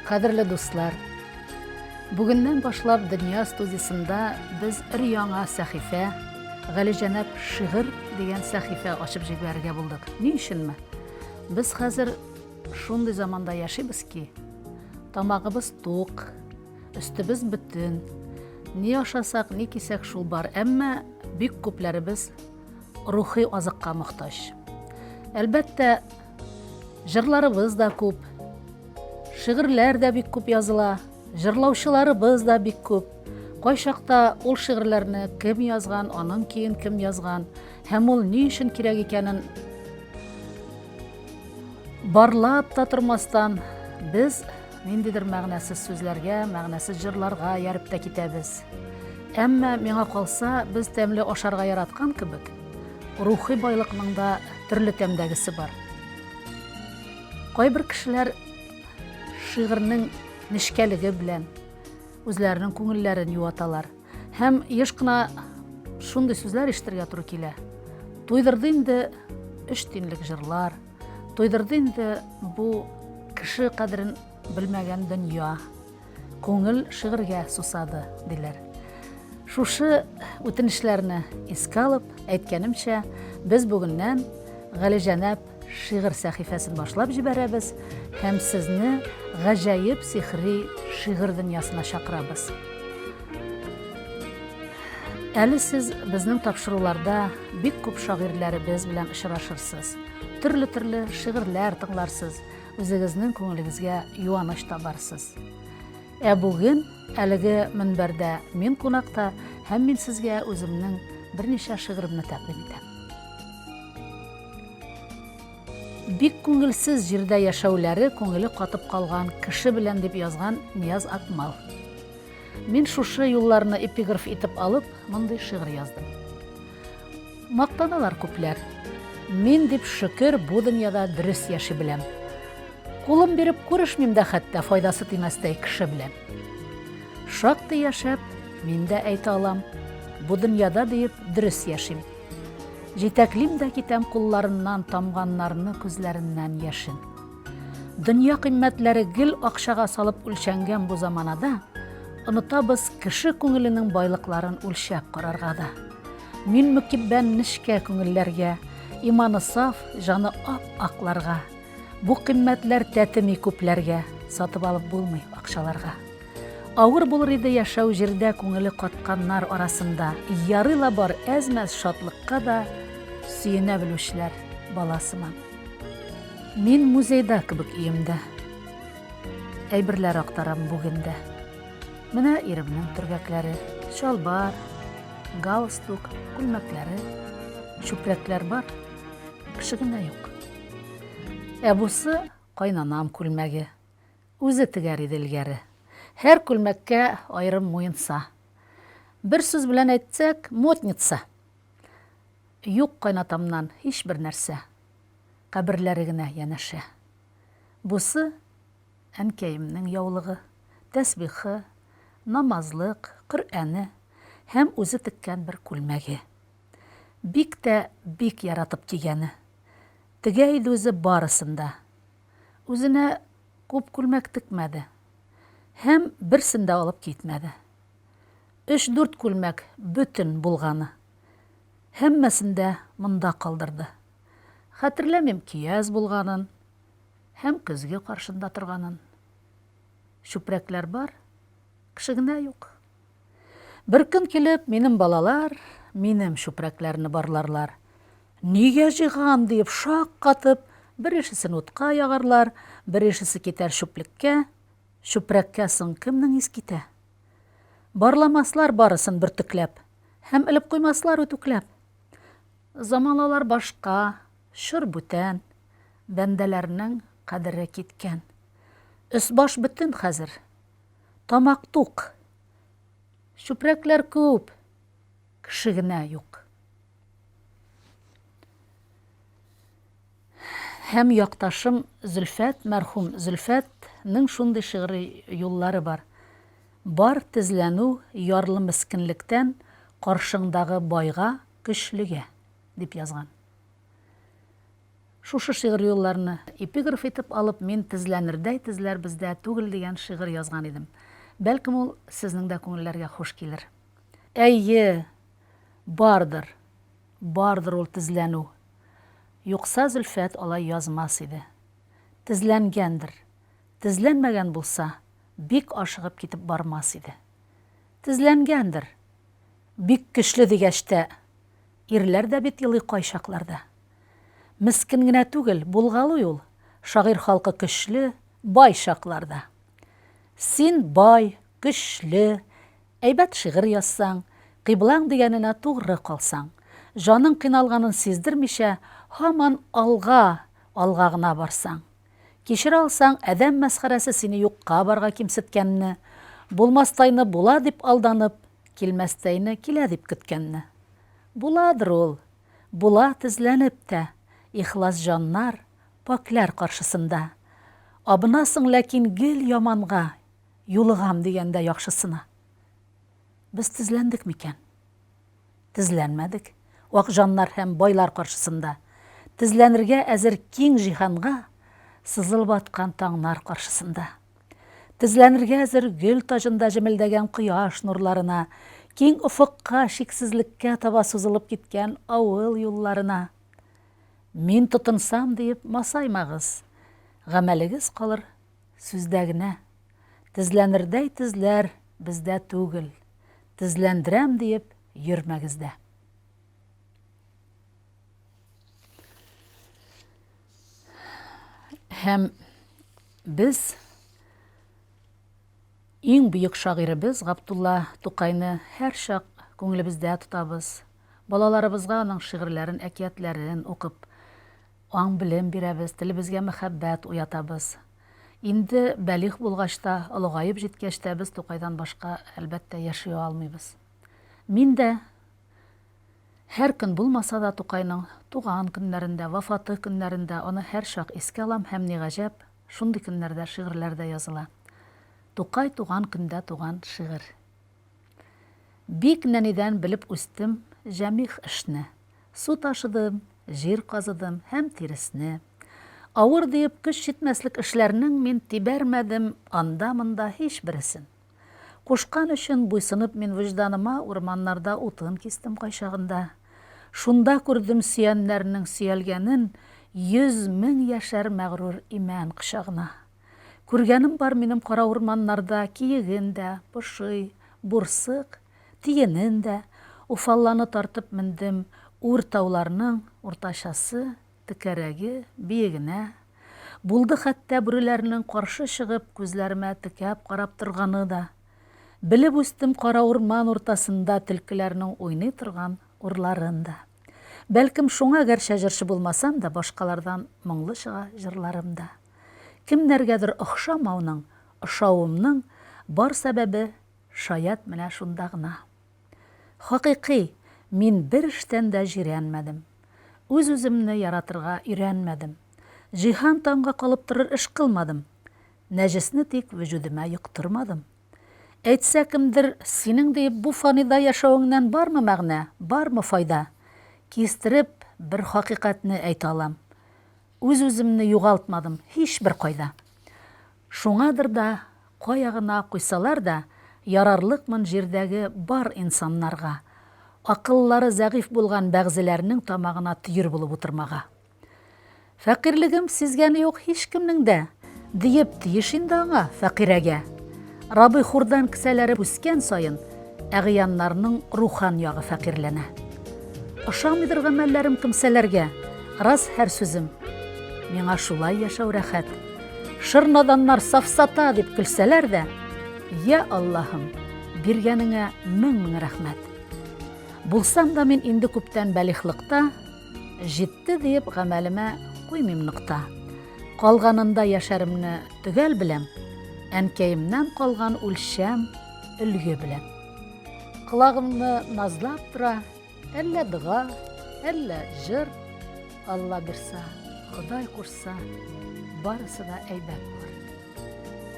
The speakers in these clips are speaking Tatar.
Кадерле дуслар, бүгеннән башлап Дөнья студиясендә без ир яңа сәхифә, Галиҗәнәп шигырь дигән сәхифә ачып җибәрергә булдык. Ни өченме? Без хәзер Шундый заманда яшибез ки, тамагыбыз тук, өстебез бөтен. Ни ашасак, ни кисәк шул бар, әмма бик күпләребез рухи азыкка мохтаҗ. Әлбәттә, җырларыбыз да күп, шигырьләр дә бик күп языла, җырлаучыларыбыз да бик күп. Кайчакта ул шигырьләрне кем язган, аның киен кем язган һәм ул ни өчен кирәк икәнен Барлап та тормастан без ниндидер мәгънәсез сүзләргә, мәгънәсез җырларга ярып та китәбез. Әмма миңа калса, без тәмле ашарга яраткан кебек, рухи байлыкның да төрле тәмдәгесе бар. Кайбер кешеләр шигырьнең нечкәлеге белән үзләренең күңелләрен юаталар. Һәм еш кына шундый сүзләр ишетергә туры килә. Туйдырды инде өч тинлек җырлар. Туйдырды инде бу кеше кадерен белмәгән дөнья. Күңел шигырьгә сусады, диләр. Шушы үтенечләрне искә алып, әйткәнемчә, без бүгеннән Галиҗәнәп Шигырь сәхифәсен башлап җибәрәбез һәм сезне гаҗәеп сихри шигырь дөньясына чакырабыз. Әле сез безнең тапшыруларда бик күп шагыйрьләребез белән очрашырсыз. Төрле-төрле шигырьләр тыңларсыз, үзегезнең күңелегезгә юаныч табарсыз. Ә бүген әлеге мөнбәрдә мин кунакта һәм мин сезгә үземнең берничә шигыремне тәкъдим итәм. Бик күңелсез җирдә яшәүләре күңеле катып калган кеше белән дип язган Нияз Акмал. Мин шушы юлларны эпиграф итеп алып, мондый шигырь яздым. Мактаналар күпләр. Мин дип шөкер бу дөньяда дөрес яши беләм. Кулым биреп күрешмим дә хәтта файдасы тимәстәй кеше белән. Шактый яшәп, мин дә әйтә алам, бу дөньяда диеп дөрес яшим. Җитәклим дә китәм кулларыннан тамганнарны күзләреннән яшен. Дөнья кыйммәтләре гел акчага салып үлчәнгән бу заманада онытабыз кеше күңеленең байлыкларын үлчәп карарга да. Мин мөкиббән нечкә күңелләргә, иманы саф, җаны ап-акларга. Бу кыйммәтләр тәтеми күпләргә, сатып алып булмый акчаларга. Авыр булыр иде яшәү җирдә күңеле катканнар арасында. Ярый ла бар әз-мәз шатлыкка да сөенә белүчеләр бала сыман. Мин музейда кебек өемдә. Әйберләр актарам бүгендә. Менә иремнең төргәкләре, чалбар, галстук, күлмәкләре, чүпләкләр бар, кеше генә юк. Ә бусы кайнанам күлмәге. Үзе тегәр иде элгәре. Һәр күлмәккә аерым муенса. Бер сүз белән әйтсәк, модница. Юк кайнатамнан һичбер нәрсә, Каберләре генә янәшә. Бусы, әнкәемнең яулыгы, Тәсбихы, намазлык, Коръәне Һәм үзе теккән бер күлмәге. Бик тә бик яратып кигәне. Тегә иде үзе барысын да. Үзенә күп күлмәк текмәде. Һәм берсен дә алып китмәде. Өч-дүрт күлмәк бөтен булганы. Һәммәсен дә монда калдырды. Хәтерләмим көяз булганын һәм көзге каршында торганын. Чүпрәкләр бар, кеше генә юк. Бер көн килеп, минем балалар минем чүпрәкләрне барларлар. Нигә җыйган, диеп шаккатып, беришесен утка ягарлар, беришесе китәр чүплеккә, Чүпрәккә соң кемнең ис китә? Барламаслар барысын бөртекләп. Һәм элеп куймаслар үтүкләп. Заманалар башка, чор бүтән. Бәндәләрнең кадере киткән. Өс-баш бөтен хәзер. Тамак тук. Чүпрәкләр күп, кеше генә юк. Һәм якташым Зөлфәт, мәрхүм Зөлфәт, нең шундый шигъри юллары бар, Бар тезләнү ярлы мескенлектән каршыңдагы байга, көчлегә, дип язган. Шушы шигъри юлларны эпиграф итеп алып, мин Тезләнердәй тезләр бездә түгел дигән шигырь язган идем. Бәлкем ул сезнең дә күңелләргә хуш килер. Әйе, бардыр. Бардыр ул тезләнү. Юкса Зөлфәт алай язмас иде. Тезләнгәндер. Тезләнмәгән булса, бик ашыгып китеп бармас иде. Тезләнгәндер. Бик көчле дигәч тә, ирләр дә бит елый кайчакларда. Мескен генә түгел, булгалый ул, шагыйрь халкы көчле, бай чакларда. Син бай, көчле. Әйбәт шигырь язсаң, кыйблаң дигәненә тугры калсаң, җаның кыйналганын сиздермичә, һаман алга, алга гына барсаң. Кичерә алсаң, адәм мәсхәрәсе сине юкка барга кимсеткәнне, булмастайны була дип алданып, килмәстәйне килә дип көткәнне. Буладыр ул, була тезләнеп тә, ихлас җаннар, пакьләр каршысында. Абынасың ләкин гел яманга, Юлыгам дигәндә яхшысына. Без тезләндек микән? Тезләнмәдек. Вак җаннар һәм байлар каршысында. Тезләнергә әзер киң җиһанга Сызылып аткан таңнар каршысында. Тезләнергә әзер гөл таҗында Җемелдәгән кояш нурларына, Киң офыкка, чиксезлеккә таба Сузылып киткән авыл юлларына. Мин тотынсам диеп масаймагыз, Гамәлегез калыр Сүздә генә. Тезләнердәй тезләр бездә түгел, тезләндерәм диеп йөрмәгез дә. Һәм без иң бөек шагыйребез Габдулла Тукайны һәрчак күңелебездә тотабыз. Балаларыбызга аның шигырьләрен, әкиятләрен укып, Аң-белем бирәбез, телебезгә мәхәббәт уятабыз. Инде бәлигъ булгач та, олыгаеп җиткәч тә без Тукайдан башка, әлбәттә, яши алмыйбыз. Мин дә һәр көн булмаса да, Тукайның туган көннәрендә, вафаты көннәрендә аны һәрчак искә алам һәм, ни гаҗәп, шундый көннәрдә шигырьләр дә языла. Тукай туган көндә туган шигырь. Бик нәнидән белеп үстем җәмигъ эшне. Су ташыдым, җир казыдым һәм тиресне. Авыр диеп көч җитмәслек эшләрнең мин тибәрмәдем анда-монда һичбересен. Кушкан өчен буйсынып мин вөҗданыма урманнарда утын кистем кайчагында. Шунда күрдем сөяннәрнең сөялгәнен йөз мең яшәр мәгърур имән кочагына. Күргәнем бар минем кара урманнарда киеген дә, пошый, бурсык, тиенен дә, уфалланы тартып мендем үр тауларның уртачасы, текәрәге, биегенә. Булды хәтта бүреләрнең каршы чыгып күзләремә текәп карап торганы да. Белеп үстем кара урман уртасында төлкеләрнең уйный торган урларын да. Бәлкем шуңа гәрчә җырчы булмасам да башкалардан моңлы чыга җырларым да. Кемнәргәдер охшамауның, ошавымның бар сәбәбе шаят менә шунда гына. Хакыйкый, мин бер эштән дә җирәнмәдем. Үз-үземне яратырга өйрәнмәдем. Җиһан таңга калып торыр эш кылмадым. Нәҗесне тик вөҗүдемә йоктырмадым. Әйтсә кемдер, синең диеп бу фанида яшәвеңнән бармы мәгънә, бармы файда? Кистереп, бер хакыйкатьне әйтә алам. Үз-үземне югалтмадым һичбер кайда. Шуңадыр да, кая гына куйсалар да, ярарлыкмын җирдәге бар инсаннарга, акыллары зәгыйфь булган бәгъзеләрнең тамагына төер булып утырмага. Фәкыйрьлегем сизгәне юк һичкемнең дә, Диеп тиеш инде аңа, фәкыйрәгә. Рабый хурдан кесәләре үскән саен, әгъяннарның рухан ягы фәкыйрьләнә. Ошамыйдыр гамәлләрем кемсәләргә, рас һәр сүзем. Миңа шулай яшәү рәхәт. Шыр наданнар сафсата дип көлсәләр дә, йә Аллаһым, биргәнеңә мең-мең рәхмәт. Булсам да мин инде күптән бәлихлыкта, Җитте диеп гамәлемә куймыйм нокта. Калганында яшәремне төгәл беләм, Әнкәемнән калган үлчәм, өлге беләм. Колагымны назлап тора Әллә дога, әллә җыр, Алла бирса, Ходай курса, Барысы да әйбәт булыр.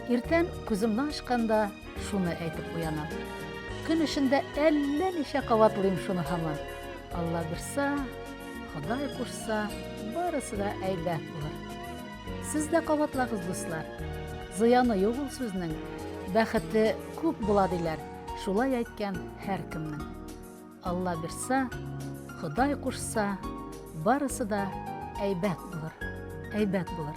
Иртән күземне ачканда шуны әйтеп уянам. Көн эчендә әллә ничә кабатлыйм шуны һаман. Алла бирсә, Ходай кушса, барысы да әйбәт булыр. Сез дә кабатлагыз, дуслар. Зыяны юк ул сүзнең. Бәхете күп була диләр. Шулай әйткән һәркемнең. Алла бирсә, Ходай кушса, барысы да әйбәт булыр. Әйбәт булыр.